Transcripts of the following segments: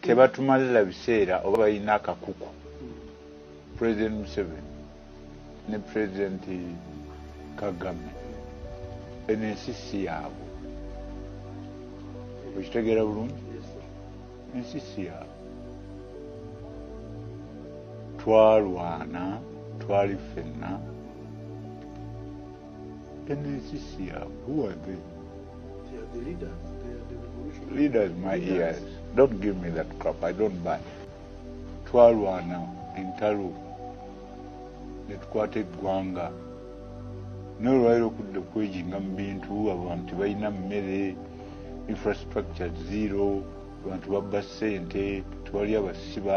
tebatumalila biseera oba balina akakuku president museven ne president kagame eno ensi si yaabwe okitegeera bulungi ensi si yaabwe twalwana twali ffenna Penetisia, who are they? They are the leaders. They are the revolutionaries. Leaders, my leaders. ears. Don't give me that crap. I don't buy. Twalwana entalo netukwata eggwanga naye olwaliro okudda okwejinga mu bintu abantu balina mmere infrastructure zero abantu babba ssente tewali abasiba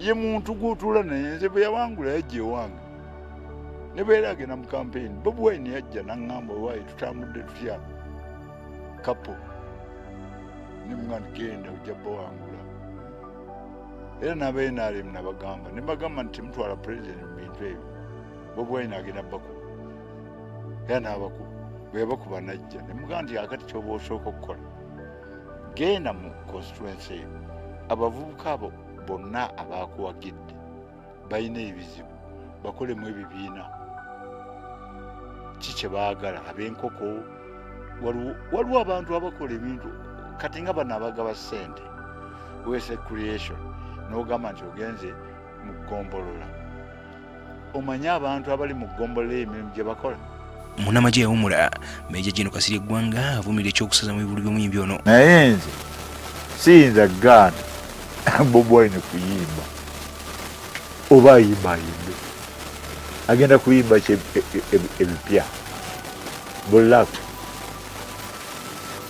ye muntu gwotula naye nze bwe yawangula yajja ewange ne bweera agenda mu kampeyini bobi wine yajja naŋŋamba owaayi tutambudde tutya kapo ne mwana genda ojja bawangula era nabenrm nabagamba nebagamba nti temutwala president mu bintu ebyo bobi wine agenda bakuba era nabakuba bweyabakuba najja nemugaa nti akati kyoba osooka okukola genda mu constituency yo abavubuka abo bonna abaakuwagidde balina ebizibu bakolemu ebibiina ki kye baagala ab'enkoko waliwo abantu abakola ebintu kati nga bano abagaba ssente wese creation n'ogamba nti ogenze mu ggombolola omanyi abantu abali mu ggombolola emirimu gye bakola munamagye yawumula meja jeno kasirye eggwanga avumirira ekyokusaza mu bibulu by'omuyimbi ono naye nze siyinza gaana bobwine kuyimba oba ayimba ayimbe agenda kuyimba ki e, e, e, ebipya bulaku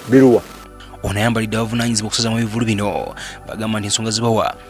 biruwa ono ayambalidde abavunaanyizibwa okusaza mu bivulu bino bagamba nti ensonga zibawa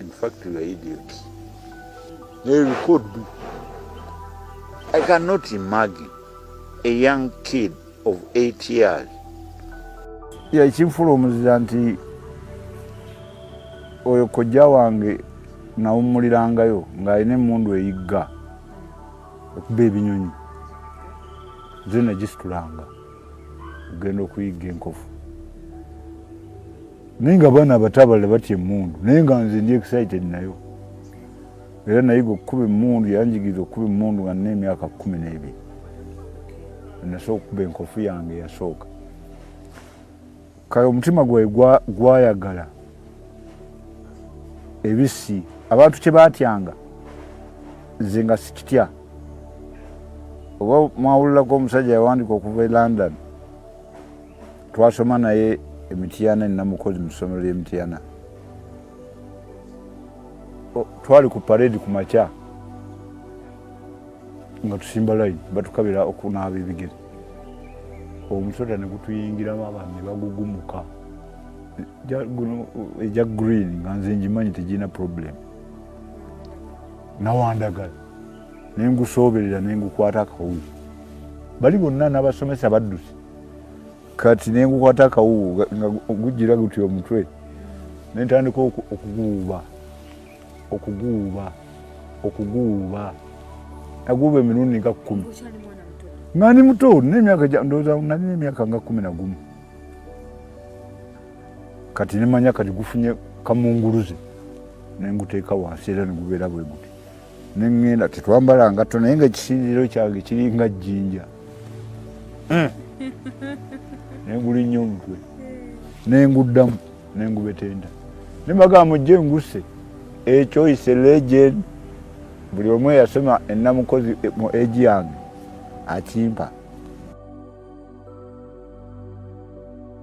In fact, you are idiots. They could be. I cannot imagine a young kid of eight years. Yeah, ekimfula omuzira nti oyo kojja wange nawummulirangayo ng'alina emmundu eyigga okuba ebinyonyi nze nagisitulanga ogenda okuyigga enkofu naye nga abaana abato abalala batya emundu naye nga nze ndi excited nayo era nayiga okukuba emundu yanjigiriza okukuba emundu nga nina emyaka kumi n'ebiri nasooka okukuba enkofu yange yasooka kale omutima gwae gwayagala ebisi abantu kyebatyanga nze nga sikitya oba mwawulirako omusajja yawandika okuva e london twasoma naye emityana enamukozi mu ssomero ly'emityana twali ku paredi ku makya nga tusimba layini batukabira okunaaba ebigere omusota ne gutuyingiramu abantu ne bagugumuka egya green nga nze ngimanyi tegirina problemu nawandagala nengusoberera nengukwata akawuzi bali bonna n'abasomesa baddusi kati nengukwata akawuwu nga gujjira guti omutwe nentandika okuguwuba okuguwuba okuguwuba naguwuba emirundi nga kumi nga ndi muto nali nemyaka nga kumi nagumu kati nemanya kati gufunye kamunguluze nenguteeka wansi era negubeera bweguti neŋŋenda tetwambala ngatto naye nga ekisinziiro kyange kiringa jjinja hmm. nengulinnya omutwe nenguddamu nengubetenda nembagaa mujje ngusse ekyo is a legend buli omu eyasoma enamukozi mu egi yange akimpa